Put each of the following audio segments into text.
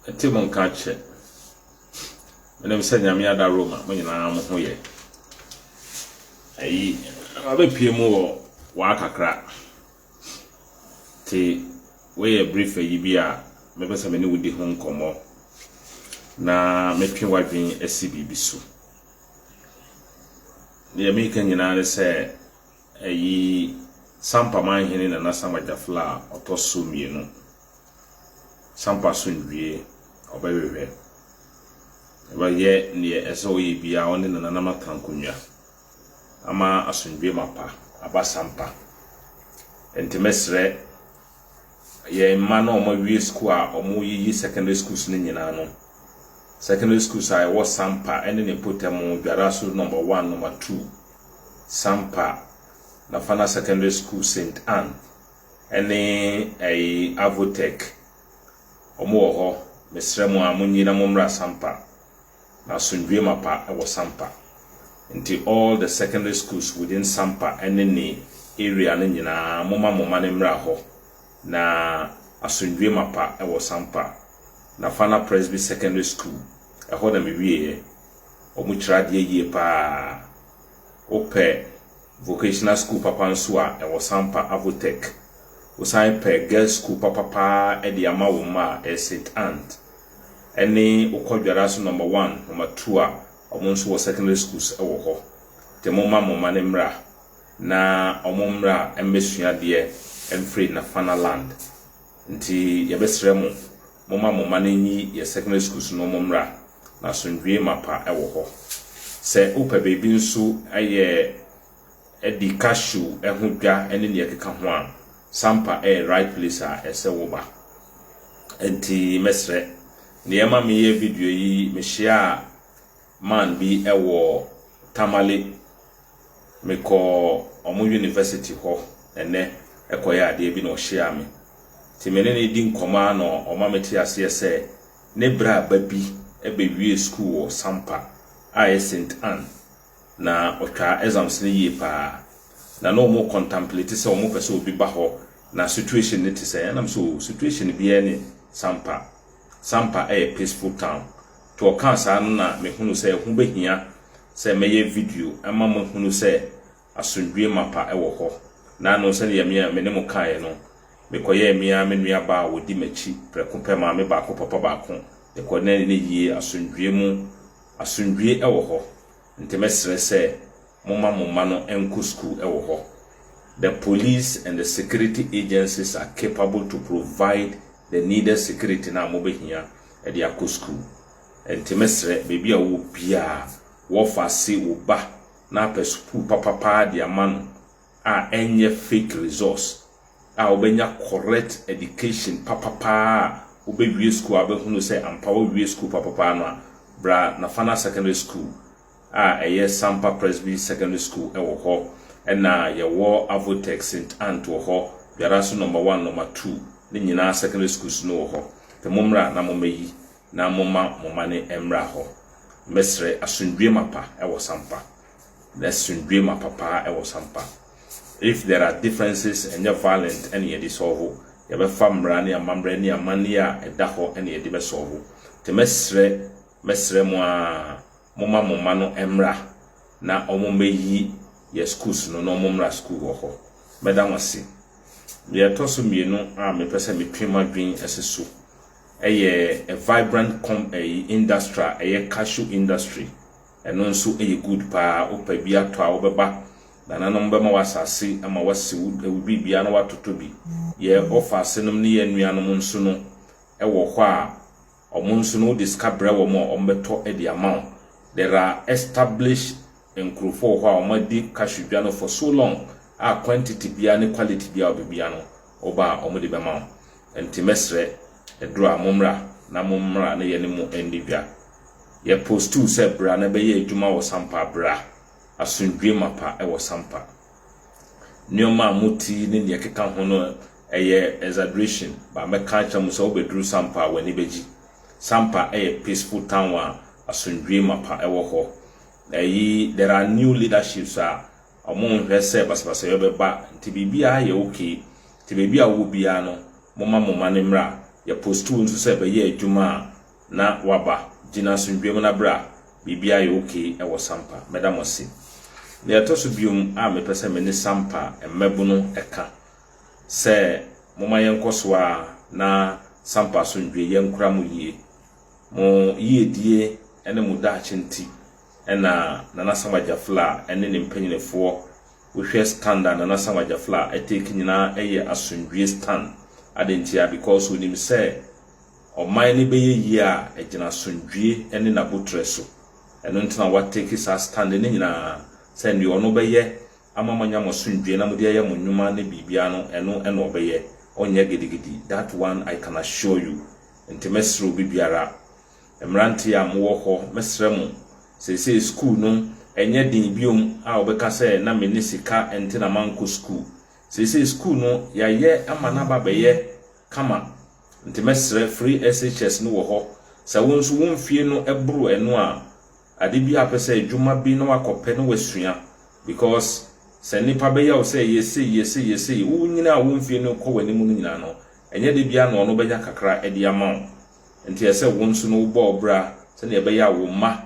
Ɛte mo nka kyɛ. Menim sɛ Nyame ada Roma mo nyinaa mo ho yɛ. Ayi, wabɛpie mu wɔ waa kakra. Te woyɛ brief ayi bi a mɛpɛ sɛ me ne wodi ho nkɔmmɔ na metwe w'adwen asi biribi so. Deɛ meka nyinaa ne sɛ Eyi Sampa Manhene Nana Sam Agyafla a ɔtɔ so mmienu. Sampa Asomdwie ɔbɛhwehwɛ. Ɔbɛyɛ neɛ ɛsɛ sɛ ɔyɛ biara ɔne ne nananom atra nkonnwa ama asomdwie mapa aba Sampa. Enti mɛsrɛ Yɛn mma no a wɔawie sukuu a wɔreyiyi secondary schools no nyinaa no, secondary schools a ɛwɔ Sampa ne ne mpɔtam, Dwara so Number One, Number Two, Sampa, Nafana Secondary School, Saint Ann, ne ɛyi Avotech, wɔwɔ hɔ. Mesrɛ mo a, monyi na mommra Sampa. N'asomdwoe mapa wɔ Sampa. Nti all the secondary schools within Sampa ne ne area no nyinaa momma mo mma no mmra hɔ na asomdwoe mapa wɔ Sampa. Nafana Presby Secondary School, ɛhɔ na me wieɛ. Ɔmo kyerɛ adeɛ yie paa. Wo pɛ vocational school papa nso a ɛwɔ Sampa, Avotech. Wo san pɛ girls school papa paa de ama wo mma a, ɛyɛ St. Ann. ɛne wokɔ dwara so number one number two a ɔmo nso wɔ secondary schools wɔ hɔ nti momma mo mma no mmra na ɔmo mmra mmɛsua adeɛ mfiri Nafana land nti yɛbɛsrɛ mo momma mo mma no nyi yɛ secondary schools no ɔmo mmra na asomdwie mapa wɔ hɔ sɛ wopɛ baabi nso yɛ di cashew ho dwa ne nea ɛkeka ho a, Sampa yɛ right place a ɛsɛ woba. Enti mɛsrɛ, nea ɛma meyɛ video yi, mehyiaa man bi wɔ Tamale. Mekɔɔ wɔn university hɔ ɛnnɛ kɔyɛ adeɛ bi na ɔhyiaa me. Nti me ne no di nkɔmmɔ ara na ɔma mete aseɛ sɛ ne bra ba bi bɛwie sukuu wɔ Sampa a ɛyɛ Saint Anne. na ɔtwaa exams no yie paa na na ɔmo contemplate sɛ ɔmo pɛ sɛ obi ba hɔ na situation no te sɛn ɛna me sɛ oo situation biaa ni Sampa Sampa ɛyɛ peaceful town nti ɔkaa saa no na me hunu sɛ ɛho bɛ hia sɛ mɛyɛ video ɛma mo ahunu sɛ asomdwie mapa ɛwɔ hɔ na ano sɛdeɛ me a me ne mo kaeɛ no me kɔyɛɛ me ara me nua baa a ɔdi makyi prɛko pɛ maame baako papa baako ne kɔ na ɛnɛ yie asomdwie mu Asomdwie wɔ hɔ, nti mɛsrɛ sɛ momma mo mma no nkɔ sukuu wɔ hɔ. The police and the security agencies are capable to provide the needed security no a mobɛhia de akɔ sukuu. Nti mɛsrɛ, baabi a wowɔ biara, wɔfa se wo ba na apɛ sukuu papa paa de ama no a ɛnyɛ fake resource a wobɛnya correct education papapaa a wobɛwie sukuu a wobɛhunu sɛ ampa woawie sukuu papapaa no a, bra Nafana Secondary School a ɛyɛ Sampa Presby Secondary School wɔ hɔ ɛna yɛwɔ Avotex St. Ant wɔ hɔ biara nso number one, number two ne nyinaa secondary schools no wɔ hɔ nti mommra na mommɛyi na momma mo mma no mmra hɔ. Mɛsrɛ asomdwoeɛ mapa wɔ Sampa. N'asomdwoe ma papa wɔ sampa. If there are differences, ɛnyɛ violent na yɛde sɔlvo, yɛbɛfa mmara ne amammerɛ ne amanneɛ a ɛda hɔ na yɛde bɛsɔlvo. Nti mɛsrɛ, mɛsrɛ mo ara, momma mo mma no mmra na wɔmmɛyi yɛn schools no na wɔmmra school wɔ hɔ. Mɛda mo ase. Deɛ ɛtɔ so mmienu a mepɛ sɛ metwe mo adwene si so yɛ a vibrant com ɛyi industry a ɛyɛ cashew industry Ɛno nso yɛ good paa wopɛ bi atɔ a wobɛba nananom bɛma wo asase ama wasi wo biribiara na watotɔ bi. Yɛn ɔfaase nom ne yɛn nuanom nso no wɔ hɔ a ɔmo nso no wode sika brɛ wɔn a ɔmo bɛtɔ de ama wo. There are established nkurofɔ wɔ hɔ a ɔmo adi cashew dwa no for so long a quantity biara ne quality biara wɔ baabiara no woba a ɔmo de bɛma wo. Nti mɛsrɛ ɛduru a mommra na mommra na yɛne mo nni dwa. Yɛpostuu sɛ bra na bɛyɛ adwuma wɔ Sampa Bra, Asomdwoe Mapa wɔ Sampa. Nneɛma a mote yi ne nea ɛkeka ho no ɛyɛ exaggeration but mɛka akyerɛ mo sɛ wobɛduru Sampa a w'ani bɛgye. Sampa yɛ peaceful town a asomdwoe mapa wɔ hɔ. Ɛyi there are new leaderships a wɔnhwɛ sɛ basabasayɔ bɛba nti biribiara yɛ okay. Nti baabi a wowɔ biara no momma mo mma no mmra. Yɛpostuu nso sɛ bɛyɛ adwuma a na waba gyina asomdwoeɛ mu na berɛ a biribiara yɛ ok wɔ Sampa. Mɛda mo ase. Deɛ ɛtɔ so biom a mepɛ sɛ me ne Sampa mmabunu ɛka sɛ momma yɛnkɔ so ara na Sampa asomdwoeɛ yɛ nkora mo yie. Mo yiedie ne mo daakye nti na Nana Sam Agyafla ne ne mpanyinifoɔ, wo hwɛ stand a Nana Sam Agyafla take nyinaa yɛ asomdwoeɛ stand. Adɛn ntia? Because ɔnim sɛ. ɔman no bɛyɛ yie a ɛgyina asomdwie ne n'abotrɛ so. Ɛno nti na watake saa stand no nyinaa sɛ deɛ ɔno bɛyɛ ama moanya mo asomdwie na mode ayɛ mo nnwuma ne biribiara no ɛno na ɔbɛyɛ, ɔnyɛ gidigidi, that one I can assure you. Nti mɛsrɛ obibiara, mmeranteɛ a mowɔ hɔ, mɛsrɛ mo, seesei sukuu no ɛnyɛ den bio a wobɛka sɛ na menni sika nti na mankɔ sukuu. Seesei sukuu no yɛayɛ ama no aba abɛyɛ. kama nti mɛsrɛ firi SHS no wɔ hɔ sɛ wo nso wo mfie no boro ɛno a ade bi a wopɛ sɛ adwuma bi na woakɔ pɛ na woasua because sɛ nnipa bɛya wo sɛ yɛ sei yɛ sei yɛ sei wo nyini a wo mfie no kɔ w'anim no nyinaa no ɛnyɛ da biara na ɔno bɛnya kakra de ama wo nti ɛsɛ wo nso no wobɔ wo bra sɛdeɛ ɛbɛyɛ a wo mma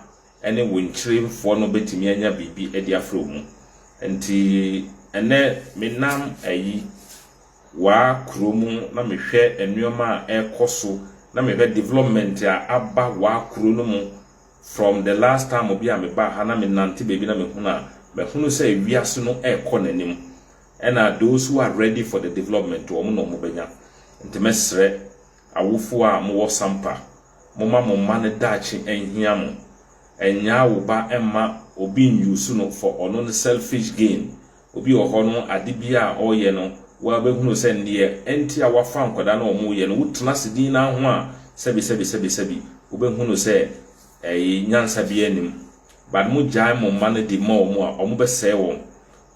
ne wo nkyeremfoɔ no bɛtumi anya biribi de afrɛ wo mu nti ɛnɛ menam ayi waa kuro mu na me hwɛ nnoɔma a ɛkɔ so na me hwɛ development a aba waa kuro no mu from the last time bi a me baa ha na me nante baabi na me hunu a ma hunu sɛ wiase no ɛkɔ na nim ɛna those who are ready for the development wɔn na wɔn bɛnya nti me srɛ awofoɔ a mo wɔ sampa mo ma mo mma no daakye nhia mo ɛnyaa wo ba mma obi nuse no for ɔno no selfish gain Obi wɔ hɔ no ade biara a ɔreyɛ no wabɛhunu sɛ neɛ ɛnti a wafa nkwadaa no a wɔreyɛ no wotena ase dinn ara ho a sɛbi sɛbi sɛbi sɛbi wobɛhunu sɛ ɛyi nyansa biara nnim but mo gyae mo mma no de ma wɔn a wɔn bɛsɛe wɔn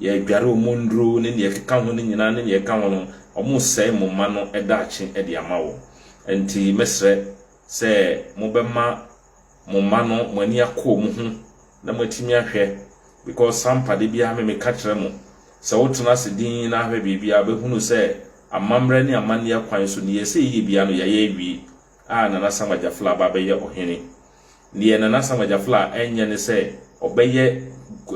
yɛadware wɔn nnuro ne neɛ ɛkeka ho no nyinaa ne neɛ ɛka ho no wɔn resɛe mo mma no daakye de ama wɔn ɛnti mɛsrɛ sɛ mobɛma mo mma no mo ani akɔ wɔn ho na moatumi ahwɛ because Sampa da biara me meka kyerɛ mo sɛ wotena ase dinn na ahwɛ biribi a wobɛhunu sɛ amammerɛ ne amanneɛ kwan so neɛ ɛsɛ yɛyɛ biara no yɛayɛ awie a Nana Sam Agyafla aba abɛyɛ ɔhene neɛ Nana Sam Agyafla ɛnyɛ ne sɛ ɔbɛyɛ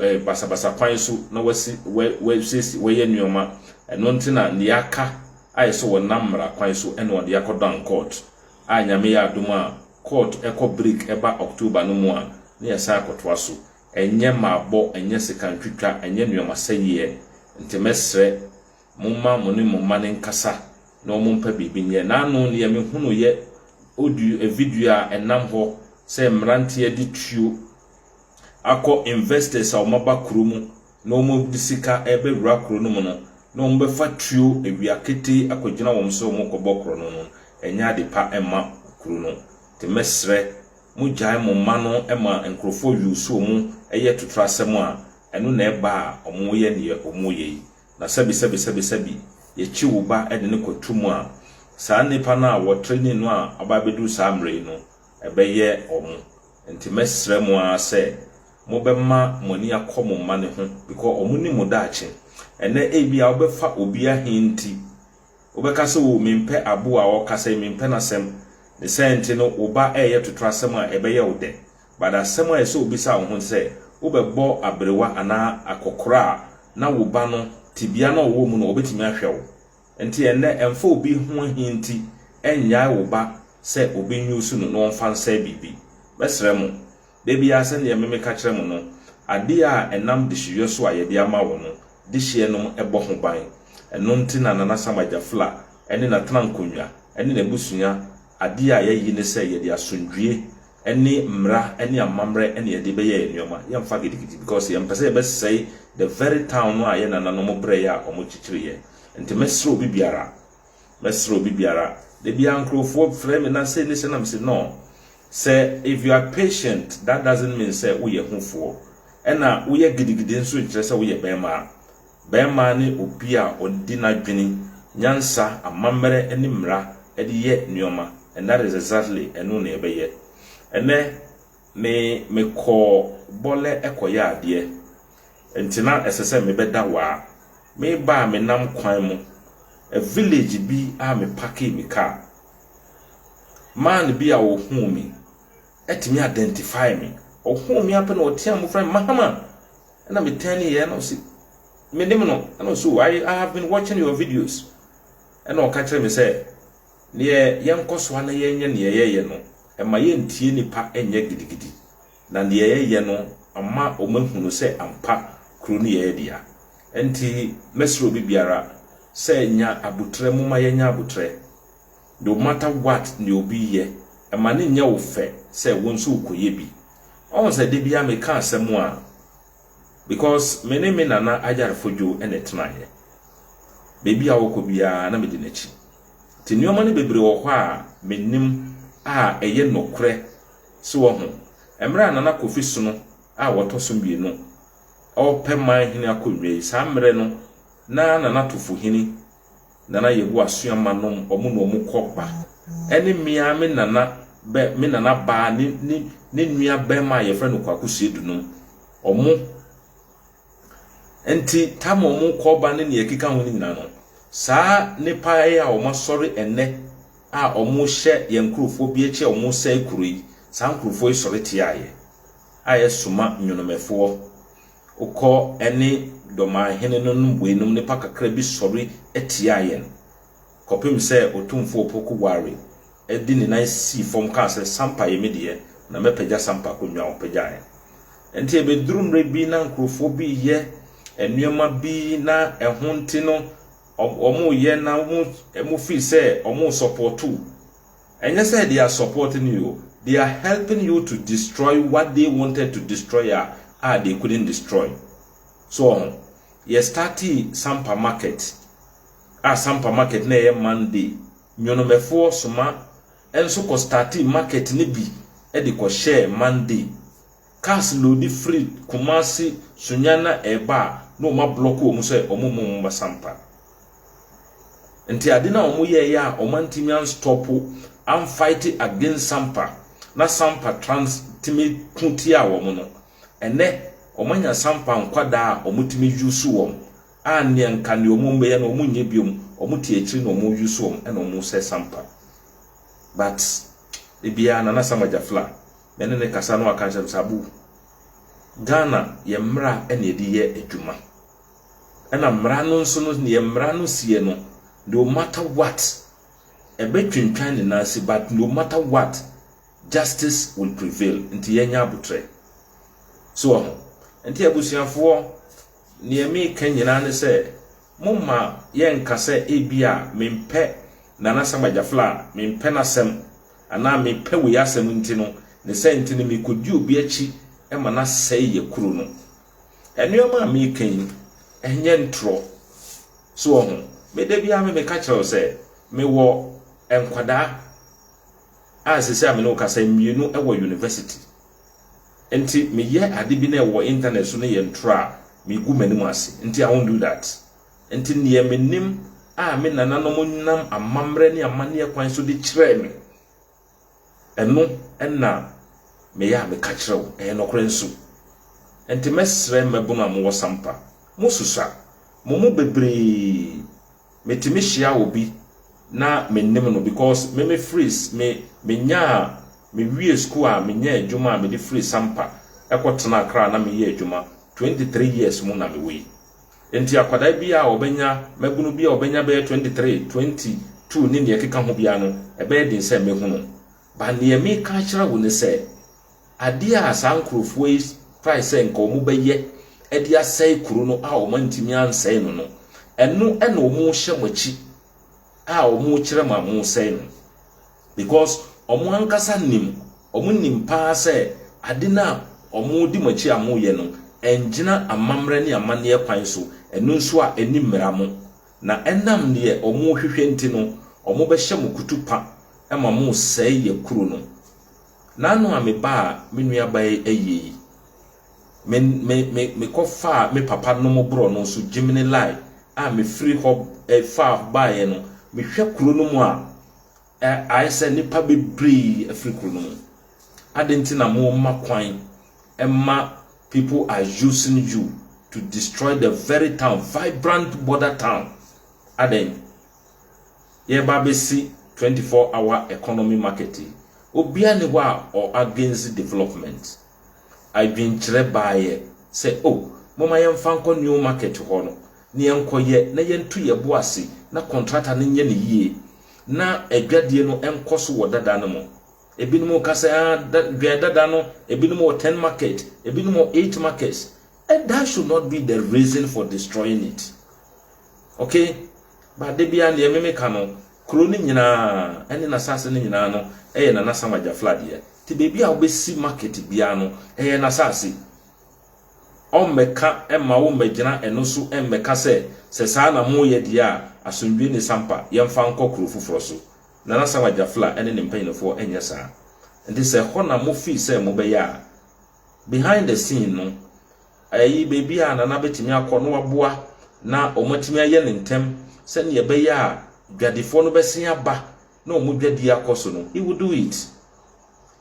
eh, basabasa kwan so na wasi wɛ wɛsiesie wɔyɛ nneɛma ɛno nti na neɛ aka a ɛsɛ wɔnam mmara kwan so ɛna ɔde akɔdan court a Nyame yɛ adom a court kɔ break ɛba October no mu a na yɛsan akɔtoa so. Ɛnyɛ mabɔ, ɛnyɛ sika ntwitwa, ɛnyɛ nnoɔma sɛyeɛ. Nti mɛsrɛ momma mo ne mo mma no nkasa na wɔn mpa biribi nyɛ. N'ano deɛ me hunuuiɛ audio ɛ video a ɛnam hɔ sɛ mmeranteɛ de tuo akɔ investors a wɔn aba kuro mu na wɔde sika rebɛwura kuro no mu no na wɔbɛfa tuo awia ketee akɔgyina wɔn sɛ wɔrekɔbɔ korɔno no, ɛnyɛ ade pa mma kuro no. Te mɛsrɛ mo gyae mo mma no ma nkorɔfoɔ wiw so wɔn yɛ totorasɛm a, ɛno na ɛba a wɔyɛ deɛ wɔyɛ yi. Na sɛbi sɛbi sɛbi sɛbi yɛkyi wo ba de no kɔ tu mu a, saa nnipa no a wɔtraining no a aba abɛduru saa mmerɛ yi no, ɛbɛyɛ wɔn nti mɛsrɛ mo ara sɛ mobɛma mo ani akɔ mo mma no ho because wɔn nim mo daakye ɛnɛ ebia wobɛfa obi ahe nti wobɛka sɛ oo mempɛ aboa a ɔkasa yi mempɛ n'asɛm ne sɛ nti no wo ba ɛyɛ totorɔ asɛm a ɛbɛyɛ wo dɛ but asɛm a ɛsɛ obisa wo ho sɛ wobɛbɔ aberewa anaa akɔkora a na wo ba no tebea na ɔwɔ mu no ɔbɛtumi ahwɛ wo Enti ɛnnɛ, ɛmfa obi ho ahi nti, nnyae wo ba sɛ obi nnwusu no na ɔmfa nsɛe biribi. Mɛsrɛ mo, da biara sɛdeɛ me meka kyerɛ mo no, adeɛ a ɛnam dehyewiɛ so a yɛde ama wo no, dehyeɛ nom bɔ ho ban. Ɛno nti na Nana Sam Agyafla ne n'atenankonnwa ne n'abusua, adeɛ a yɛayi ne sɛ yɛde asomdwoeɛ ne mmara ne amammerɛ na yɛde bɛyɛɛ nnoɔma, yɛmfa gidigidi because yɛmpɛ sɛ yɛbɛsɛe the very town no a yɛn nananom brɛeɛ a wɔn kyekyereeɛ. Nti mɛsrɛ obi biara, mɛsrɛ obi biara, da biara nkorɔfoɔ frɛ me na sei ne sei na me se noo, sɛ if you are patient that doesn't mean sɛ woyɛ hufoɔ, ɛna woyɛ gidigidi nso nkyerɛ sɛ woyɛ bɛɛmaa. Barima ne obi a ɔde n'adwene, nyansa, amammerɛ ne mmara de yɛ nneɛma and that is exactly ɛno na yɛbɛyɛ. Ɛnnɛ me mekɔɔ Bɔlɛ kɔyɛ adeɛ nti na ɛsɛ sɛ mebɛda Waa. Mereba a menam kwan mu a village bi a me parkee me car. Man bi a ɔhuu me atumi identify me, ɔhuu me ara pɛ na ɔteaam ɔfrɛɛ me Mahama! ɛna me tɛn ne yɛ na ɔsi me nim no ɛna ɔsi o i have been watching your videos ɛna ɔka kyerɛ me sɛ neɛ yɛnkɔ so ana yɛnyɛ neɛ yɛyɛ no ɛma yɛntie nipa ɛnyɛ gidigidi na neɛ yɛyɛ no ama wɔn ahunu sɛ ampa kuro no yɛyɛ dea ɛnti mɛsrɛ obi biara sɛ nya abotrɛ moma yɛnya abotrɛ No matter what nea obi yɛ, mma no nyɛ wo fɛ sɛ wo nso wokɔyɛ bi. Woahu sɛ da biara meka asɛm a, because me ne me nana Ayarefo Dwo na ɛtenaeɛ. Baabi a ɔkɔ biara na medi n'akyi. Nti nneɛma no bebree wɔ hɔ a menim a ɛyɛ nokorɛ. So woahu? Mmerɛ a Nana Kofi Sono a ɔtɔ so mmienu repɛ man hene akonnwa yi, saa mmerɛ no na Nana Tufohene Nana Yehowa soa ma nom ɔmo na ɔmo kɔ ba ɛne me ara me nana bɛ me nana baa ne ne ne nua bɛɛma a yɛfrɛ no Kwaku Seidu nom ɔmo nti tam a ɔmo kɔ ba ne nea ɛkeka ho no nyinaa no saa nipa yi a ɔmo asɔre ɛnɛ a ɔmo hyɛ yɛn nkurɔfoɔ bi akyi a ɔmo sɛe kuro yi saa nkurɔfoɔ yi sɔre tiaeɛ a yɛsoma nwonomɛfoɔ Wokɔ ne dɔmanhene no no mmueinom nnipa kakra bi sɔre tiaa yɛn, kɔpem sɛ Otumfo Opoku Ware de ne nan sii fam kaa sɛ, Sampa ye me deɛ, na mɛpagya Sampa akonnwa a ɔpagyaeɛ. Enti ɛbɛduru mmerɛ bi na nkurofoɔ bi reyɛ nneɛma bi na ɛho nti no wɔreyɛ na wɔfeel sɛ wɔresɔpɔɔto Ɛnyɛ sɛ they are supporting you o, they are helping you to destroy what they wanted to destroy a a they couldn't destroy. So wɔ ho? Yɛ startee Sampa market a Sampa market na ɛyɛ Monday, Nyonomɛfoɔ soma nso kɔ startee market no bi de kɔ hyɛɛ Monday. Cars loodi firi Kumasi Sunyana reba a na wɔn ablɔk wɔn sɛ wɔn mma wɔn mma sampa. Nti ade no a wɔn yɛɛyɛ a wɔn antumi anstɔpo an fight against sampa na sampa trans tumi ko tiaa wɔn no ɛnɛ wɔn anya sampa nkwadaa a wɔn tumi use wɔn a neɛ nka neɛ wɔn bɛyɛ no wɔn nyɛ biom wɔn te akyiri na wɔn use wɔn ɛna wɔn sɛ sampa but ebiara nana samagya fla me ne no kasa no ɔka nkyerɛ me sɛ Abu, Ghana yɛ mmara na yɛde yɛ adwuma. Ɛna mmara no nso no yɛ mmara no seɛ no no matter what ɛbɛtwentwan ne nan ase but no matter what justice will prevail nti yɛnyɛ abotrɛ. So wɔ ho. Nti abusuafoɔ neɛ meka nyinaa ne sɛ momma yɛnka sɛ ebi a mempɛ Nana Sam Agyafla a mempɛ n'asɛm anaa mepɛ wei asɛm nti no, ne sɛ nti no mekɔdi obi akyi ma no asɛe yɛ kuro no. Nnoɔma a meka yi, ɛnyɛ ntorɔ. So wɔ ho? Me da biara me meka kyerɛ wo sɛ, mewɔ nkwadaa a sisi a me ne wo kasa mmienu wɔ university. Nti meyɛ ade bi na ɛwɔ internet so no yɛ ntorɔ a, megu m'anim ase. Nti I won't do that. Enti nea minim a me nananom nam amammerɛ ne amanneɛ kwan so de kyerɛɛ me, ɛno na meyɛ a meka kyerɛ wo. Ɛyɛ nokorɛ nso. Enti mɛsrɛ mmabunu a mowɔ Sampa, mosusua. Mo mu bebree, metumi hyia obi na mennim no because me mefiri, me, menyaa, mewiee sukuu a menyaa adwuma a mede firii Sampa kɔtenaa Accra na meyɛɛ adwuma. Twenty three years mu na mewɔ yi. Enti akwadaa bi a ɔbɛnya, mmabunu bi a ɔbɛnya bɛyɛ 23, 22 ne nea ɛkeka ho biara no, ɛbɛyɛ den sɛ mɛhu no. But nea meka akyerɛ wo ne sɛ, adeɛ a saa nkurɔfoɔ yi trae sɛ nka wɔbɛyɛ de asɛe kuro no a wɔantumi ansɛe no no, ɛno na wɔhyɛ mo akyi a wɔkyerɛ ma mosɛe no. Because ɔmo ankasa nim, ɔmo nim paa sɛ ade no a ɔmo di mo akyi a mo yɛ no ɛngyina amammerɛ ne amanneɛ kwan so, ɛno nso a ɛni mmera mo. Na ɛnam deɛ ɔmo hwehwɛ nti no ɔmo bɛhyɛ mo kutupa ma mo sɛe yɛ kuro no. N'ano a me baa me nua baa yi ayie yi, me me me me kɔ faa me papa nom borɔ no nso gyimine lie a me firi hɔ faa baeɛ no me hwɛ kuro no mu a, Ɛ, ayɛ sɛ nnipa bebree afiri kuro no mu. Adɛn nti na mo mma kwan ma people are using you to destroy the very town, vibrant border town? Adɛn? Yɛreba abɛsi 24 hour economy market yi. Obiara nni hɔ a ɔ against development. adwenkyerɛ baeɛ sɛ, O, momma yɛmfa nkɔ Newmarket hɔ no, na yɛnkɔyɛ na yɛnto yɛn bo ase na kɔntrata no nyɛ no yie, na adwadie no nkɔ so wɔ dada no mu. Ebinom reka sɛ, Ah, da, dwɛn dada no, ebinom wɔ ten market, ebinom wɔ eight markets. That should not be the reason for destroying it. Okay? But da biara deɛ meme ka no, kuro no nyinaa ɛne n'asase no nyinaa no ɛyɛ Nana Asamoah Gyafla deɛ. Nti baabi a wobɛsi market biara no, ɛyɛ n'asase. Ɔmmɛka mma wo mmɛgyina ɛno so mmɛka sɛ, sɛ saa na moyɛ deɛ a, asomdwoeɛ ne sampa, yɛmfa nkɔ kuro foforɔ so. Nana Asamoah Gyafla ɛne ne mpanyinifoɔ ɛnyɛ saa. Nti sɛ ɛhɔ na mo feel sɛ mobɛyɛ a, behind the scene no, ayi baabi a Nana bɛtumi akɔ na waboa na wɔatumi ayɛ no ntɛm sɛdeɛ ɛbɛyɛ a dwadifoɔ no bɛsen aba na wɔn dwadie akɔ so no, he will do it.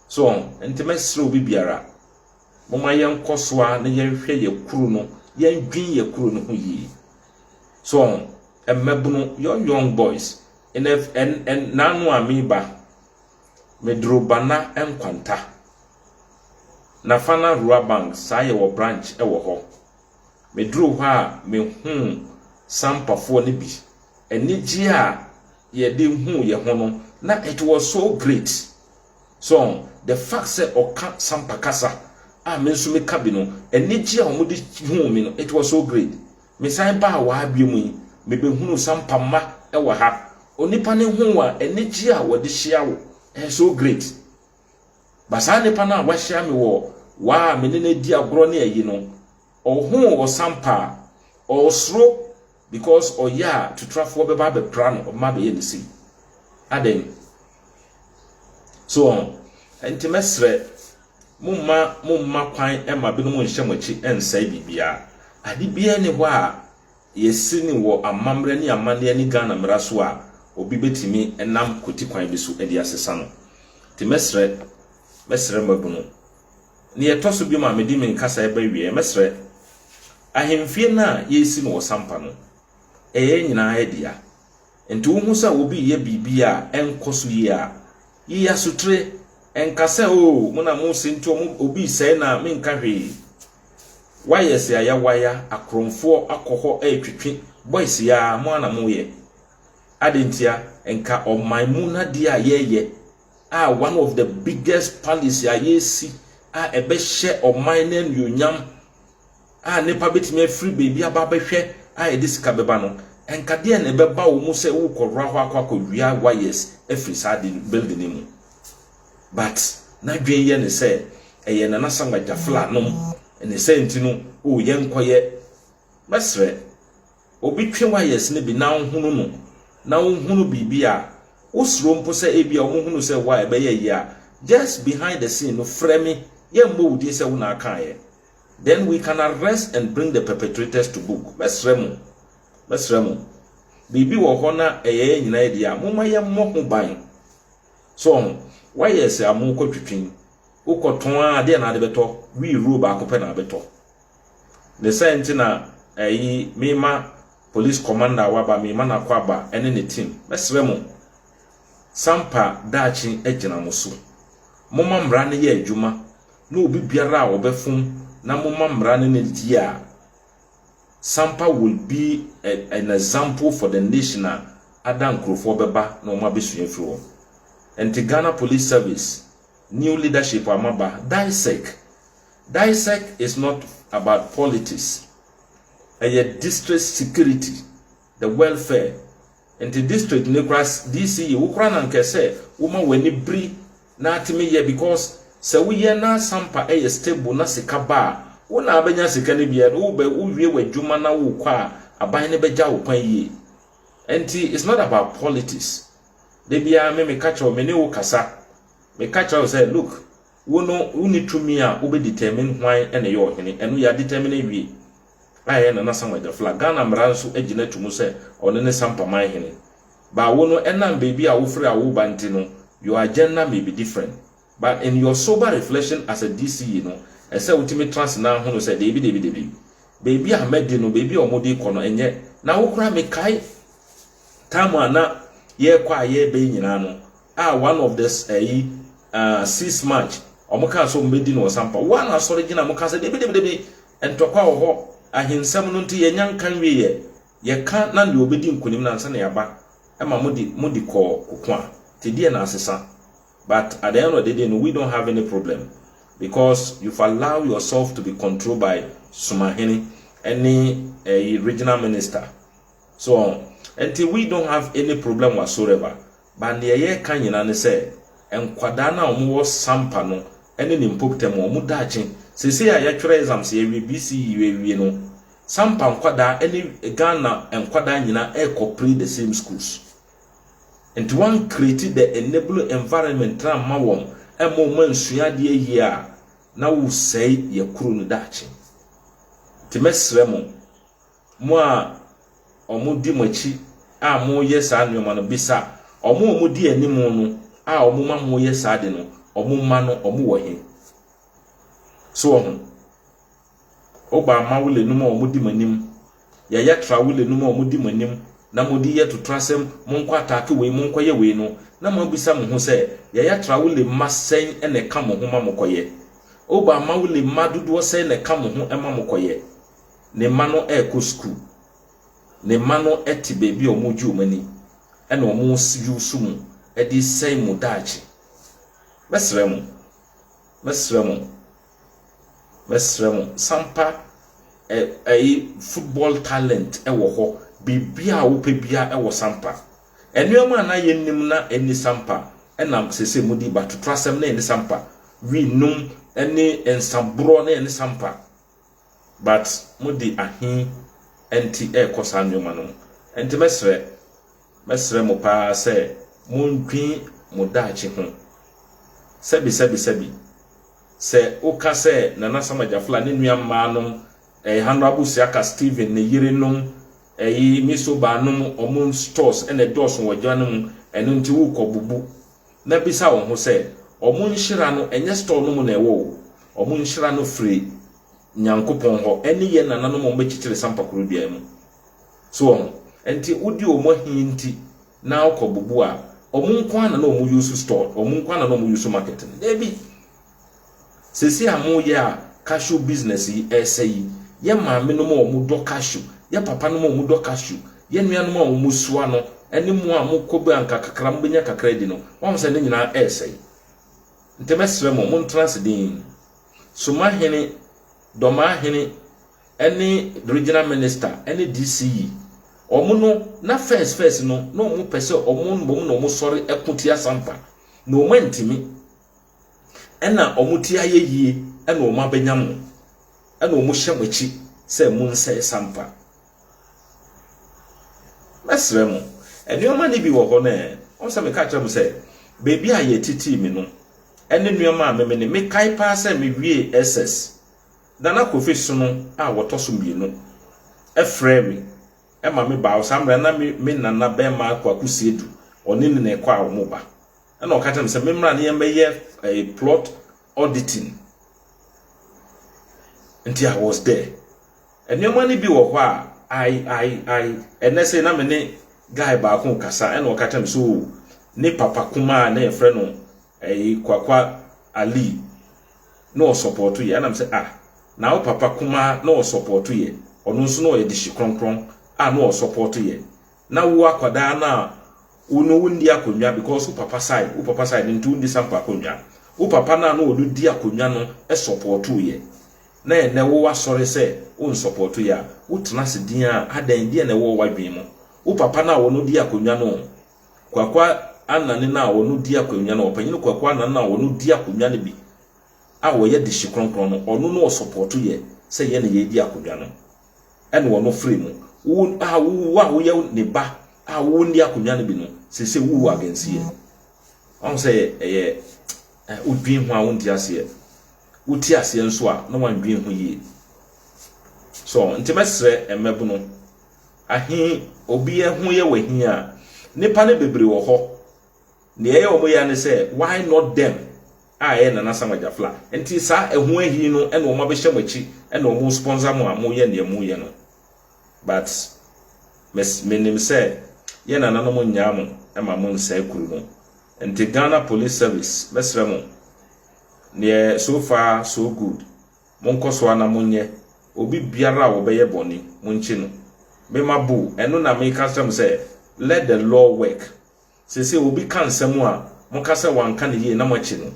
So ɔn, nti mɛsrɛ obi biara, moma yɛnkɔ so a na yɛnhwɛ yɛ kuro no, yɛndwen yɛ kuro no ho yie. So ɔn, mmabunu, your young boys, ɛnɛ ɛnɛ naanu a meba, meduro bana nkwanta, Nafana Rural Bank saa yɛwɔ branch wɔ hɔ. Me duruu hɔ a me huu Sampafoɔ no bi. Anigyeɛ a yɛde huu yɛn ho no na it was so great. So the fact sɛ ɔka Sampa kasa a me nso me ka bi no, anigyeɛ a wɔde huu me no it was so great. Me san baa waa bio mu yi, me bɛ hunuu Sampa mma wɔ ha. Onipa no ho a anigyeɛ a wɔde hyia wo ɛyɛ so great. Ba saa nipa no a wahyia me wɔ waa a me ne no adi agorɔ ne ayi no, ɔhoo ɔsampa a, ɔresoro because ɔyɛ a tutrafoɔ bɛba abɛpra no, ɔbɛma abɛyɛ ne sei. Adɛn? So wɔn? Ɛnti mɛsrɛ, momma momma kwan ɛma binom nhyɛ mo akyi ɛnsɛe biribiara. Ade biara ni hɔ a Yɛasi no wɔ amammerɛ ne amanneɛ ne Ghana mmara so a obi bɛtumi nam kwati kwan bi so de asesa no. Nti mɛsrɛ, mɛsrɛ mmabunu. Deɛ ɛtɔ so biom a mede me nkasa reba awieɛ, mɛsrɛ, ahemfie no a yɛresi no wɔ Sampa no, ɛyɛ yɛn nyinaa dea. Enti wohu sɛ obi reyɛ biribi a ɛnkɔ so yie a, yi asotire. Nka sɛ, 'Oo, mo na mose nti wɔn, obi resɛe no a menka hwee. Woayɛ sɛ ayawaya, akorɔmfoɔ akɔ hɔ retwetwe, boys yi ara, mo ara na moreyɛ. Adɛn ntia? Nka ɔman mu no adeɛ a yɛreyɛ a one of the biggest policy a yɛresi a ɛbɛhyɛ ɔman no anuonyam a nnipa betumi afiri baabi aba abɛhwɛ a ɛde sika bɛba no, ɛnka deɛn na ɛbɛba wo mu sɛ worekɔwura hɔ akɔ akɔwia wires afiri saa ade no building no mu. But n'adwene yɛ ne sɛ ɛyɛ Nana Asamoah Gyafla nom ne sɛ nti no oh yɛnkɔyɛ. Mɛsrɛ, obi twe wires no bi na ɔnhunu no na ɔnhunu biribi a wosuro mpo sɛ ebia wɔhunu sɛ wo a ɛbɛyɛ yie a, just behind the scene no frɛ me, yɛmmɔ wo din sɛ wo na akaeɛ. then we can arrest and bring the perpetrators to book. Mɛsrɛ mo, mɛsrɛ mo, biribi wɔ hɔ na ɛyɛ yɛn nyinaa yɛ deɛ a, momma yɛmmɔ ho ban. So ɔho, woayɛ sɛ amu kɔ twitwin, wokɔtɔn a adeɛ na ade bɛtɔ, wi ruro baako pɛ na abɛtɔ. Ne sɛ nti na ɛyi mema police commander a waba, mema no akɔ aba ɛne ne team. Mɛsrɛ mo, sampa daakye agyina mo so. Momma mmara no yɛ adwuma ne obi biara a ɔbɛfom na momma mmara ne no die a, Sampa will be a, an example for the nation a ada nkurofoɔ bɛba na wɔn abɛsua afiri hɔ. Ɛnti Ghana Police Service new leadership a moaba, DISEC, DISEC is not about politics, ɛyɛ district security. the world fair nti district ne kora DC yi wo kora na nkɛ sɛ woma w'ani biri na atimi yɛ because sɛ woyɛ na sampa ɛyɛ stable na sika ba a wo na abɛnya sika no bi and wobɛ wowie w'adwuma na wokɔ a aban no bɛgya wo kwan yie nti it's not about politics da biara me meka kyerɛ wo me ne wo kasa meka kyerɛ wo sɛ look wo no woni tumi a wobɛ determine hwan ɛna yɛ ɔhene ɛno yɛ determine awie a ɛyɛ Nana Samuel Gyaflo a Ghana mmara nso agyina to mu sɛ ɔno ne Sampa Manhene. But wo no ɛnam baabi a wofiri a woba nti no your agenda may be different. But in your sober reflection as a DCE no ɛsɛ wotumi tra ase na hunu sɛ deebi deebi deebi baabi a madi no baabi a wɔde rekɔ no ɛnyɛ na wo koraa mekae time a na yɛrekɔ a yɛreba yi nyinaa no a one of the ɛyi uh, six march wɔn kaa sɛ wɔn bɛdi no ɔsampa wɔn asɔre gyina wɔn kaa sɛ debidebidebi ntɔkwa wɔ hɔ ahensɛm no nti yɛnya nka nwie yɛ yɛka na deɛ ɔbɛdi nkonim na ansa na yɛaba ɛma mo di mo di kɔɔ koko a te deɛ na asesa but at the end of the day no we don't have any problem because you've allowed yourself to be controlled by sumahene ɛne ɛyi regional minister so ɛnti we don't have any problem whatsoever But neɛ yɛka nyina ne sɛ nkwadaa no a wɔn wɔ Sampa no ne ne mpobta mu wɔn daakye seesei a yɛatwerɛ exams yɛawie BCE yɛawie no Sampa nkwadaa ne Ghana nkwadaa nyina rekɔ play the same schools nti wɔn create the enable environment no amma wɔn ɛmma wɔn ansua adeɛ yie a na wo sɛe yɛ kuro no daakye nti mɛsrɛ mo Mo a wɔdi mo akyi a moreyɛ saa nneɛma no, bisa wɔn a wɔdi anim no a wɔma moreyɛ saa ade no, wɔn mma no, wɔwɔ he? So wɔ ho? Woba mma wo lenum a wɔdi mo anim, yaya tra wo lenum a wɔdi mo anim, na mode yɛ totorasɛm, monkɔ ataake wei, monkɔyɛ wei no, na moabisa mo ho sɛ, yaya tra wo lemma sɛn na ɛka mo ho ma mokɔyɛ? Woba mma wo lemma dodoɔ sɛn na ɛka mo ho ma mokɔyɛ? Ne mma no rekɔ sukuu. Ne mma no te baabi a wɔregye wɔn ani na wɔreyiw so mu de resɛe mo daakye. Mɛsrɛ mo, mɛsrɛ mo, mɛsrɛ mo, sampa ɛ, ɛyi, football talent wɔ hɔ, biribiara a wopɛ biara wɔ sampa. Nneɛma a na yɛnnim na ɛnni sampa na seesei modi, batotorasɛm na ɛnni sampa, wi nom ne nsaborɔ na ɛnni sampa. but mode ahe nti ɛrekɔ saa nnoɔma no mu? Nti mɛsrɛ, mɛsrɛ mo paa sɛ mondwen mo daakye ho. Sɛbi sɛbi sɛbi, sɛ woka sɛ Nana Sam Agyafla ne nua mmaa nom, ɛɛ Honourable Siaka Stephen ne yere nom, ɛyi Miss Obaa nom, wɔn stores na ɛdɔɔso wɔ gya no mu, ɛno nti worekɔ bubu. na bisa wo ho sɛ, Wɔn nhyira no, ɛnyɛ store no mu na ɛwɔ o. Wɔn nhyira no firi Nyankopɔn hɔ, ɛne yɛn nananom a wɔbɛkyekyere sampakuro dua mu. So wɔn? Ɛnti wodi wɔn ahi nti na wokɔ bubu a, wɔn nko ara na na wɔuse store, wɔn nko ara na na wɔuse market no? Dabi! Seesei a moyɛ a cashew business yi ɛresɛ yi, yɛ maamenom a wɔdɔ cashew, yɛ papanom a wɔdɔ cashew, yɛ nuanom a wɔsoa no, ne mo a mokɔ bi a anka kakra mobɛnya kakra adi no, moahu sɛ ne nyinaa ɛresɛe. Nti mɛsrɛ mo, montena ase dinn. Soma Hene, Dormaa Hene, ne Regional Minister, ne DCE. Wɔn no, na first first no, na wɔpɛ sɛ wɔn na wɔsɔre ko tia Asampa, na wɔantumi. ɛna wɔn ti ayɛ yie ɛna wɔn abɛnya mo ɛna wɔn hyɛ mo akyi sɛ mo nsɛe sampa mɛsrɛ mo nneɛma no bi wɔ hɔ no wɔn sɛ meka kyerɛ mo sɛ beebi a yɛtitii me no ɛne nneɛma a meme ne mekae paa sɛ mewie ss Nana Kofi Sono a wɔtɔ so mmienu ɛfrɛ me ɛma me baa saa mmerɛ na me me nana bɛrima Kwaku Siedu ɔne ne na ɛkɔ a wɔn ba ɛna ɔka kyerɛ me sɛ memmra ne yɛmmɛyɛ ɛyɛ eh, plot auditing nti i was there nneɛma no bi wɔ hɔ a i i i ɛnɛ sɛ na me ne guy baako kasa ɛna ɔka kyerɛ me so oh, ne papa kumaa na yɛfrɛ no ɛyi eh, kwakwa ali na ɔsɔpɔto yɛ ɛnam sɛ ah na wo papa kumaa na ɔsɔpɔto yɛ ɔno nso na ɔyɛ de hyi kronkron a na ɔsɔpɔto yɛ na wo akwadaa no a wo no wo ndi akonnwa because wo papa side wo papa side nti wo ndi sample akonnwa wo papa no a no ɔno di akonnwa no sɔpɔɔto yɛ na ɛnɛ wo asɔre sɛ wo nsɔpɔɔto yɛ a wo tena se din a adɛn deɛ na ɛwɔ wo adwene mu wo papa no a ɔno di akonnwa no kwakwa anane no a ɔno di akonnwa no ɔpanyini kwakwa anane no a ɔno di akonnwa no bi a ɔyɛ de hye kronkron no ɔno no ɔsɔpɔɔto yɛ sɛ yɛ na yɛ di akonnwa no ɛne wɔn frɛ mu. Wo a wo wo a woyɛ ne ba a wo nni akonnwa no bi no, sese wo wɔ agansiɛ. Wɔn sɛ ɛyɛ wodwin ho a wonte aseɛ. Wote aseɛ nso a na wɔndwin ho yie. So nti mɛsrɛ mmɛbono ahe obi ho yɛ wɔ ahi a nipa no bebree wɔ hɔ. nea ɛyɛ wɔn ya ne sɛ why not them a ɛyɛ Nana Sam Agyafla nti saa ɛho ahi no ɛna wɔn abɛhyɛ mo akyi ɛna wɔn sponsor mo a moyɛ nea moyɛ no but mes menim sɛ yɛ nananom nyaa mo ɛma mo nsɛe kuru no nti Ghana Police Service mɛsrɛ mo neɛ so far so good monkɔ so ana monyɛ obi biara a wɔbɛyɛ bɔne monkyi no mema bo ɛno na meka srɛ mo sɛ let the law work Seesei obi ka nsɛm a, moka sɛ wanka no yie na moakyi no.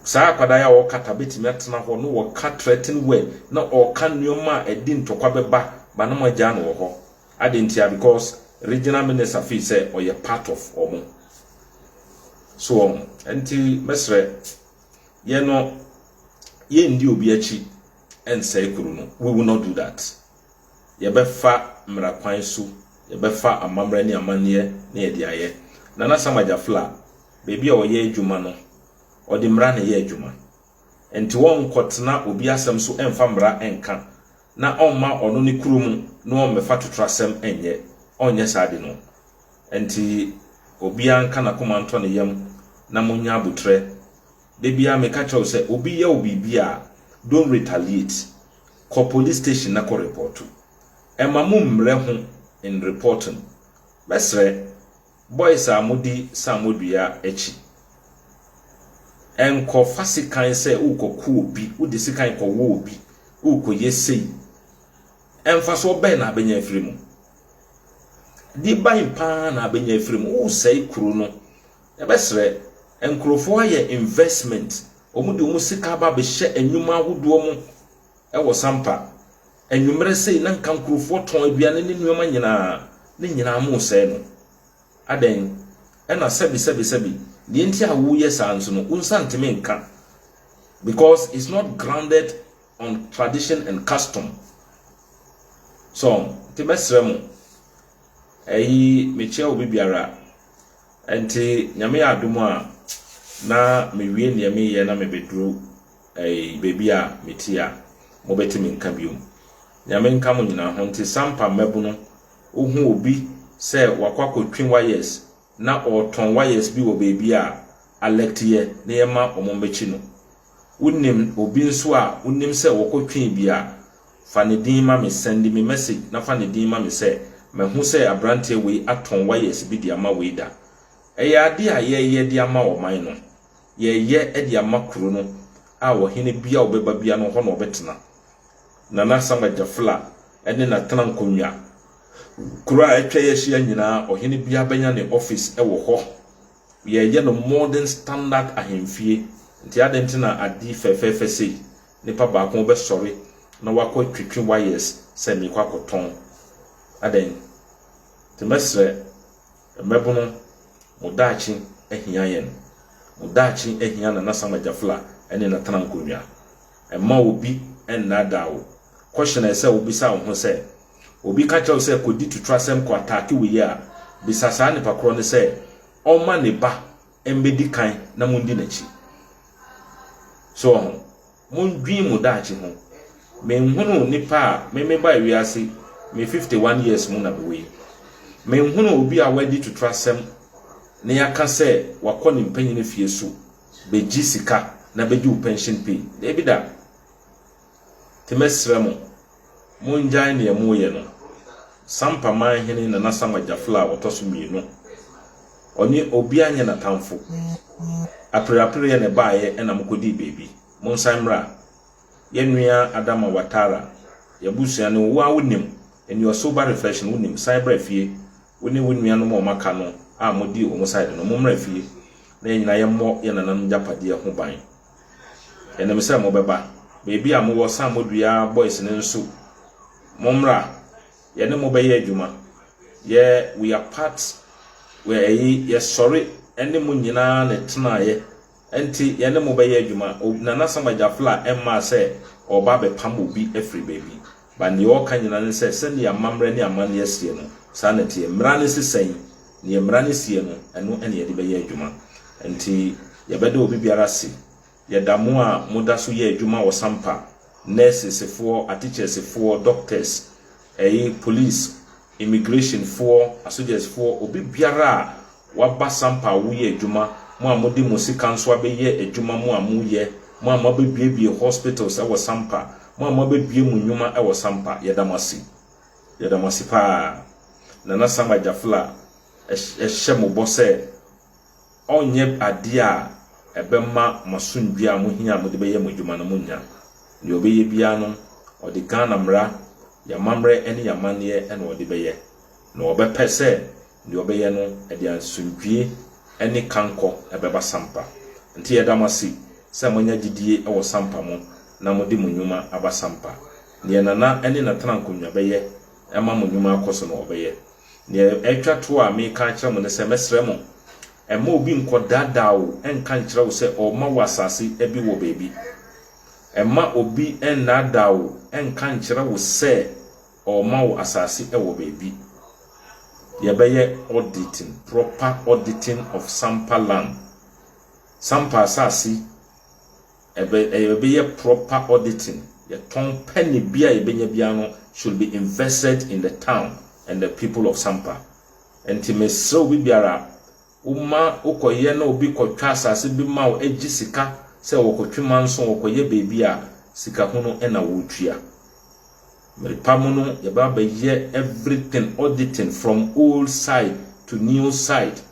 Saa akwadaa yi a ɔwɔ Qatar bɛtumi atena hɔ na ɔka threaten word na ɔka nneɛma a ɛde ntɔkwa bɛba ba na moagyaa no wɔ hɔ. Adɛn ntia? Because regional minister feel sɛ ɔyɛ part of wɔn. So wɔn. Ɛnti mɛsrɛ, yɛn no, yɛnndi obi akyi nsɛe kuro no. We will not do that. yɛbɛfa mmara kwan so, yɛbɛfa amammerɛ ne amanneɛ na yɛde ayɛ. Nana Sam Agyafla, baabi a ɔyɛ adwuma no, ɔde mmara na ɛyɛ adwuma. Ɛnti ɔnkɔtena obi asɛm so ɛmfa mmara ɛnka, na ɔmma ɔno ne kuro mu na ɔmmɛfa totorasɛm ɛnyɛ. Ɔnyɛ saa de no. Ɛnti obiara nka n'akoma ntɔ ne yam na monyɛ aboterɛ Da biara meka kyerɛ wo sɛ obi yɛ wo biribi a, don't retaliate. Kɔ police station na kɔ repɔɔto. Ɛmma mo mmrɛ ho in reporting. Mɛsrɛ, boys a modi saamɔ dua akyi, ɛnkɔ fa sekan sɛ worekɔ ko obi, wode sekan kɔ wɔ obi, worekɔ yɛ sei. Mfasoɔ bɛn na abɛnya afiri mu? Deɛ ban paa na abɛnya afiri mu, woresɛe kuro no, Yɛbɛsrɛ nkurɔfoɔ ayɛ investment, wɔde wɔn sika aba abɛhyɛ nnwuma ahodoɔ mu wɔ Sampa. Anwummerɛ sei na nka nkurɔfoɔ tɔn aduane ne nneɛma nyinaa, ne nyinaa moresɛe no. Adɛn? Ɛna sɛbi sɛbi sɛbi, deɛ nti a woreyɛ saa nso no, wo nsa ntumi nka because it's not grounded on tradition and custom. So, nti mɛsrɛ mo, ɛyi mekyia obi biara, Ɛnti Nyame yɛ adom a, na mewie neɛ meyɛ na mebɛduru ɛyi baabi a meti a, mobɛte me nka biom. Nyame nka mo nyinaa ho. Nti Sampa mmabunu, wohu obi sɛ wakɔ akɔtwi wires na ɔɔtɔn wires bi wɔ baabi a, alɛkte yɛ na yɛma wɔn mmɛkyi no. Wonim obi nso a wonim sɛ wɔkɔ Twi bi a, fa ne din ma me, sɛnde me message na fa ne din ma me sɛ mahu sɛ abranteɛ wei atɔn wires bi de ama wei da. Ɛyɛ adeɛ a yɛyɛ de ama ɔman no. Yɛyɛ de ama kuro no a ɔhene bia ɔbɛba bia no hɔ na ɔbɛtena. Nana Asamoah Gyafla ne natena nkonnwa. Kuro a atwa yɛ ahyia nyinaa ɔhene biara bɛnya ne office wɔ hɔ. Yɛreyɛ no modern standard ahemfie nti adɛn nti na adi fɛfɛɛfɛ sei? Nipa baako bɛsɔre na wakɔ twitwi wires sɛ meekɔ akɔtɔn adɛn? Nti mɛsrɛ mmɛbono mo daakye ahia yɛn, mo daakye ahia Nana Sam Agyafla ne Natana Nkonwa. Mma obi nnaadaa wo, question a ɛsɛ sɛ wobisa wo ho sɛ, Obi ka kyerɛ wo sɛ kɔdi tutrasɛm kɔ ataake wo yere a, bisa saa nipa korɔ no sɛ ɔmma ne ba mmɛdi kan na mondi n'akyi. So ɔho? Mondwene mo daakye ho. Menhunuu nipa a me mebae wiase me fifty one years mu na mewɔ yi. Menhunuu obi a wadi tutrasɛm na yɛaka sɛ wakɔ ne mpanyini fie so bɛgye sika na bɛgye wo pension pay. Daabi da. Nti mɛsrɛ mo, mongyae nea moreyɛ no. Sampa Manhene Nana Sam Agyafla a ɔtɔ so mmienu. Ɔne obiara nyɛ n'atamfo. Apereapereɛ na ɛbaeɛ ɛna mokɔdii baabi. Monsan mmra. Yɛn nua Adama Watara, y'abusua ne wo, wo ara wonim, and you are sober reflection, wonim, san bra fie, wo ne wo nuanom a wɔaka no a modii wɔn side no, mommra fie na yɛn nyinaa yɛmmɔ yɛn nananom agyapadeɛ ho ban. Yɛnim sɛ mobɛba. Baabi a mowɔ Sam Odua Boys no nso, mommra. Yɛne mo bɛyɛ adwuma. Yɛ we are part we ɛyi yɛsɔre ne mo nyinaa na ɛtenaeɛ. Ɛnti yɛne mo bɛyɛ adwuma. Nana Sam Agyafla mmaa sɛ ɔreba abɛpam obi afiri baabi. Ba nea ɔka nyinaa ne sɛ, sɛdeɛ amammerɛ ne amanneɛ seɛ no, saa na ɛteɛ. Mmara no se sɛn? Deɛ mmara no seɛ no, ɛno na yɛde bɛyɛ adwuma. Enti, yɛbɛda obi biara ase. Yɛda mo a moda so yɛ adwuma ɔsampa, nɛɛsesefoɔ, atekyɛɛsefoɔ, doctors, ɛyi, police, Immigration foɔ, asogyɛs foɔ, obi biara a waba sampa a woyɛ adwuma, mo a mode mo sika nso abɛyɛ adwuma mo a moyɛ, mo a moabɛbuebue hospitals wɔ sampa, mo a moabɛbue mo nnwuma wɔ sampa, yɛda mo ase. Yɛda mo ase paa. Nana Sam Agyafla hyɛ mo bɔ sɛ ɔrenyɛ adeɛ a ɛbɛma mo asomdwoeɛ a mohia a mode bɛyɛ mo adwuma no monnya. Deɛ ɔbɛyɛ biara no, ɔde Ghana mmara, yɛn amammerɛ ne yɛn amanneɛ na ɔde bɛyɛ. Na ɔbɛpɛ sɛ deɛ ɔbɛyɛ no, ɛde asomdwoeɛ ne kankɔ bɛba Sampa. Nti yɛda mo ase sɛ moanya gyedie wɔ Sampa mu na mode mo nnwuma aba Sampa. Deɛ Nana ne Natana Nkonwa bɛyɛ ma mo nnwuma akɔ so no, ɔbɛyɛ. Nea ɛtwa to a mereka akyerɛ mo ne sɛ, mɛsrɛ mo, mma obi nkɔdaadaa wo nka nkyerɛ wo sɛ ɔrema wo asase bi wɔ baabi. Mma obi nnaadaa wo nka nkyerɛ wo sɛ ɔrema wo asase wɔ baabi. Yɛbɛyɛ auditing, proper auditing of Sampa land, Sampa asase ɛbɛ ɛbɛyɛ proper auditing yɛtɔn pɛne bia yɛbɛnya bia no should be invested in the town and the people of Sampa nti mesrɛ obi biara woma wokɔyɛ na obi kɔtwa asase bi ma wo agye sika sɛ wɔkɔtwe manso wɔkɔyɛ baabi a sikahunu na wotua mmerepa mu no yɛbɛba bɛyɛ everything auditing from old site to new site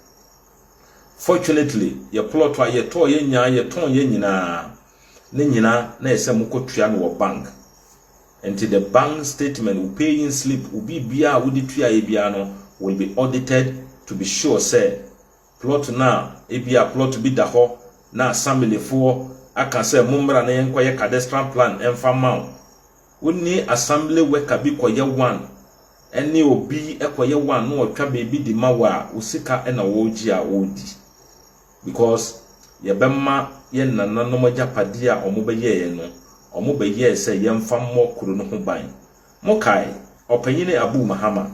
Fortunately yɛ plot a yɛtɔɔ yɛ nyaa yɛ tɔn yɛ nyinaa ne nyina na ɛsɛ mo kɔ tua no wɔ bank nti the bank statement wo pay in slip wo biribiaa a wode tuaeɛ biaa no will be audited to be sure sɛ plot no a ebia plot bi da hɔ na assamble foɔ aka sɛ mommra na yɛnkɔ yɛ cadestral plan mfa mma wo Wo ne assembly worker bi kɔyɛ one ɛne obi kɔyɛ one na ɔtwa baabi de ma wo a, wo sika na wɔregye a wɔredi because yɛbɛma yɛn nananom agyapadeɛ a wɔbɛyɛeɛ no, wɔbɛyɛɛ sɛ yɛmfa mmɔ kuro no ho ban. Mokae? Ɔpanyin Abu Mahama.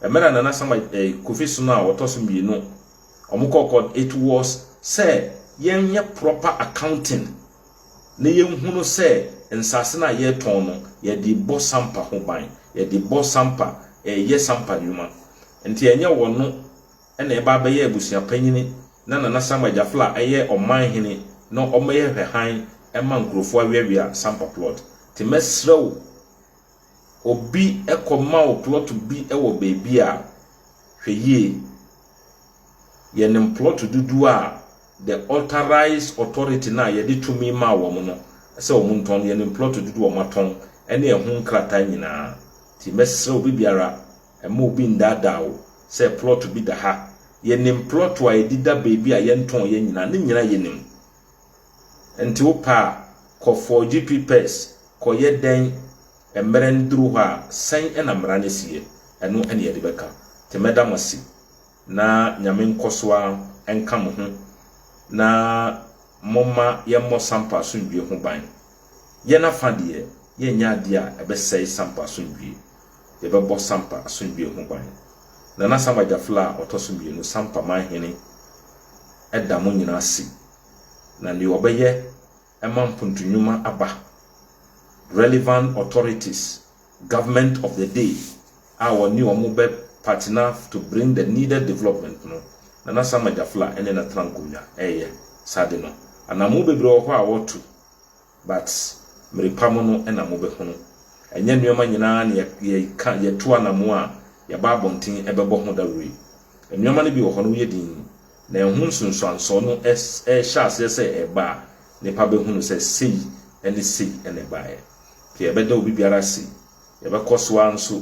Ɛmɛ na Nana Sama eh, Kofi Sono a wɔtɔ so mmienu wɔn kɔɔ court. It was sɛ yɛnyɛ proper accounting na yɛnhunu sɛ nsase no a yɛretɔn no yɛde bɔ sampa ho ban, yɛde bɔ sampa, yɛ sampa nnwuma. Nti ɛnyɛ wɔn no na ɛba abɛyɛ abusua panyin na Nana Sama Gyafla ɛyɛ ɔman hene na wɔyɛ hwɛ hann ma nkurɔfoɔ awɛwea sampa plot. Nti mɛsrɛ wo Obi kɔma wo plot bi wɔ baabi a, hwɛ yie. Yɛnim plot dodoɔ a the authorized authority no a yɛde tumi maa wɔn no sɛ wɔn ntɔn no, yɛnim plot dodoɔ a wɔatɔn ne ɛho nkrataa nyinaa. Nti mɛsrɛ obi biara, mma obi nnaadaa wo sɛ plot bi da ha. Yɛnim plot a ɛdeda baabi a yɛntɔn yɛ nyinaa, ne nyinaa yɛnim. Nti wo pɛ a kɔ forge pipɛs kɔ yɛ dɛn mmerɛ no duru hɔ a sɛn na mmara no si yɛ ɛno na yɛde bɛka nti mɛda mo ase na nyame nkɔ so ara nka mo ho na momma yɛn mmɔ sampa asomdwie ho ban yɛn afa deɛ yɛn nyɛ adeɛ a ɛbɛsɛe sampa asomdwie yɛ bɛbɔ sampa asomdwie ho ban Nana Sam Agyafla a ɔtɔ so mmienu sampa man hene da mo nyina ase, na deɛ ɔbɛyɛ ma mpontunwuma aba, relevant authorities, government of the day a ɔne wɔn bɛ partner to bring the needed development no, Nana Sama Gyafla ne na tena nkonnwa reyɛ saa ade no. Anammo bebree wɔ hɔ a wɔretu, But merepa mo no na mobɛhunu. Ɛnyɛ nnoɔma nyinaa na yɛka, yɛto anamoo a yɛba abɔnten bɛbɔ ho dawuro yi. Nnoɔma no bi wɔ hɔ no woyɛ dinn, na ɛho nsunsuansoɔ no rehyɛ aseɛ sɛ ɛreba a, nnipa bɛhunu sɛ sei ne sei na ɛbaeɛ. Nti ɛbɛda obi biara ase. Yɛbɛkɔ so ara nso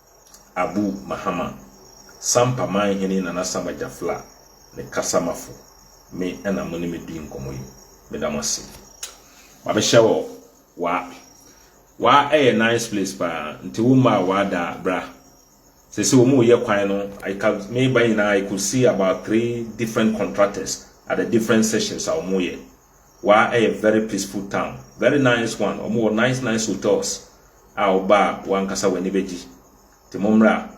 Abu Mahama, Sampa Manhene Nana Sama Jafla ne Kasamafo, me na mo ne me di nkɔmmɔ yi. Meda mo ase. Mabehyɛ wɔ wa. Wa ɛyɛ nice place paa, nti wo mma a wa da bra. Sese wɔn reyɛ kwan no, I can me ba nyinaa I could see about three different contractors at the different sessions a wɔn reyɛ. Wa yɛ very peaceful town very nice one ɔmo wɔ nice nice hotels a wo ba a wankasa w'ani bɛ gye nti mo mmra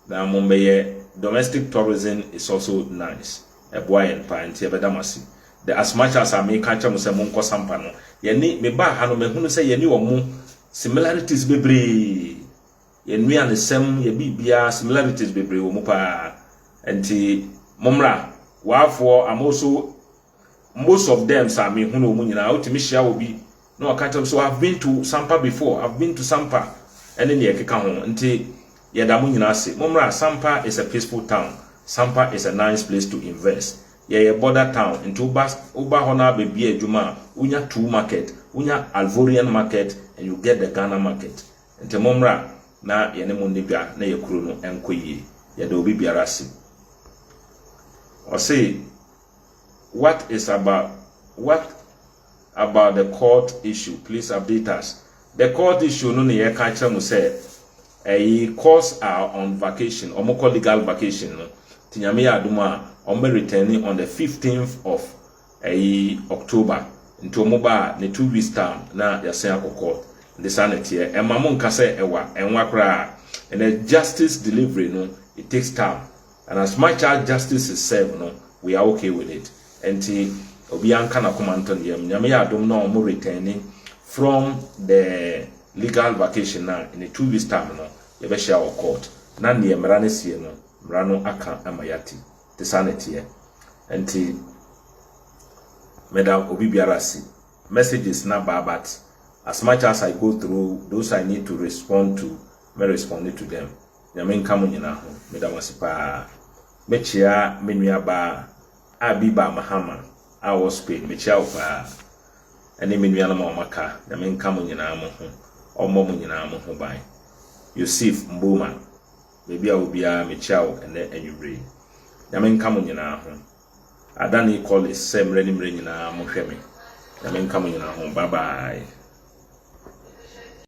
na mo bɛ yɛ domestic tourism is also nice ɛboa yɛn paa nti yɛ bɛ da mo ase the as much as a me ka kyɛ mo sɛ mo nkɔ sampa no yɛ ni me baa ha no mɛ hunu sɛ yɛ ni ɔmo similarities bebree yɛ nnuane sɛm yɛ bi biara similarities bebree wɔ mu paa nti mo mmra waafoɔ I'm also Most of thems a mehu no wɔn nyinaa wotumi hyia obi na ɔka kyerɛ m sɛ I've been to Sampa before, I've been to Sampa ɛne nea ɛkeka ho. Nti yɛda mo nyinaa ase. Mommra, Sampa is a peaceful town, Sampa is a nice place to invest. Yɛyɛ border town nti woba woba hɔ no ara bɛbue adwuma a wonya two market, wonya Alvorian market and you get the Ghana market. Nti mommra na yɛne mo nni dwa na yɛ kuro no nkɔ yie. Yɛda obi biara ase. Ɔse. what is about what about the court issue please update us the court issue no na yɛka akyerɛ mo sɛ ɛyi courts are on vacation wɔn kɔ legal vacation no ti nyame yɛ adum a wɔn bɛ return on the fifteenth of ɛyi October nti wɔn ba a ne two weeks time na yɛasen akɔ court nti saa na ɛteɛ ɛma mo nka sɛ ɛwa ɛnwa koraa ɛnɛ justice delivery no it takes time. and as much as justice is served no we are okay with it nti obiara nka n'akoma nto ne yam Nyame yɛ adom na ɔmo returne from the legal vacation no a in a two weeks time no yɛbɛhyia wɔ court na neɛ mmara no sie no mmara no aka ama yɛate nti saa na ɛteɛ nti meda obi biara ase messages na baa but as much as I go through those I need to respond to me respond to them Nyame nka mo nyinaa ho. Meda mo ase paa. Mekyea me nua baa a Biba Mahama a ɔwɔ Spain. Mekyea wo paa. Ɛne me nuanom a wɔaka. Nyame nka mo nyinaa mo ho. Ɔmmɔ mo nyinaa mo ho ban. Yosif Mboma, baabi a wo biara mekyea wo ɛnɛ anwumerɛ yi. Nyame nka mo nyinaa ho. Adani Collis sɛ mmerɛ ne mmerɛ nyinaa mo hwɛ me. Nyame nka mo nyinaa ho. Bye bye.